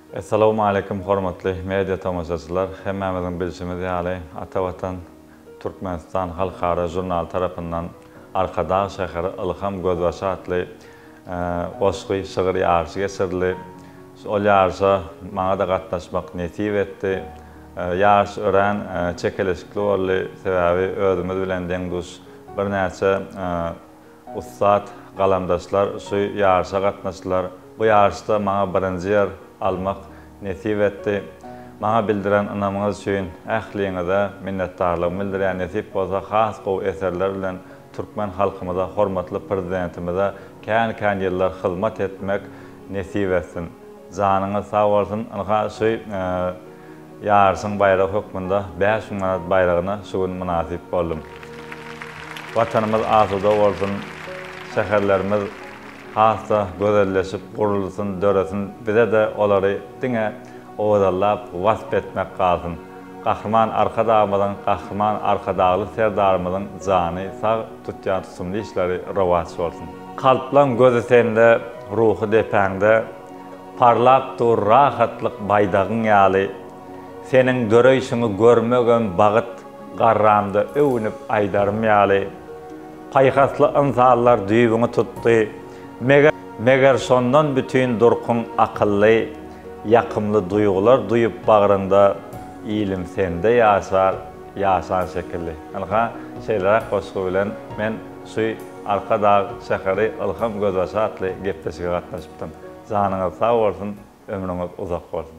Essalawmaleýkim hormatly media tomaşaçylar! Hemmämiziň bilşimiz ýaly, Ata Watan, Türkmenistan halkara žurnaly tarapyndan Arkadag şäheri ylham gözbaşy atly goşgy, şygyr ýaryşy geçirildi. Ol ýaryşa maňa-da gatnaşmak nesip etdi. Ýaryş örän çekeleşikli boldy, sebäbi özümiz bilen deň-duş birnäçe Ussat galamdaşlar şu ýaryşa gatnaşdylar. Bu ýaryşda maňa birinji ýer almak nesip etdi. Maňa bildiren ynamyňyz üçin ähliňize minnetdarlygymy bildirýän nesip bolsa has gowy eserler bilen türkmen halkymyza hormatly Prezidentimize kän kän ýyllar hyzmat etmek nesip etsin. Janyňyz sag bolsun ynha şu. Ýaryşyň baýragy hökmünde bäş müň manat baýragyna şu gün mynasyp boldum. Watanymyz asuda bolsun, şäherlerimiz has-da gözelleşip, gurulsyn, döresin, bize-de olary diňe owadanlap, wasp etmek galsyn. Gahryman Arkadagymyzyň, Gahryman Arkadagly Serdarymyzyň jany sag, tutýan tutumly işleri rowaç bolsun! Kalplaň gözi sende, ruhy depäňde. Parlap dur rahatlyk baýdagyň ýaly, Seniň döreýşiňi görmegem bagyt, Garramda öwünip aýdarym ýaly. Paýhasly ynsanlar düýbüňi tutdy, Meger, meger şondan bütin durkuň akylly, Ýakymly duýgular duýup bagryňda, Ilim sende ýaşar. Ýaşan şekilli. Ynha, şeýleräk goşgy bilen men şu Arkadag şäheri ylham gözbaşy atly gepleşige gatnaşypdym. Janyňyz sag bolsun, ömrüňiz uzak bolsun!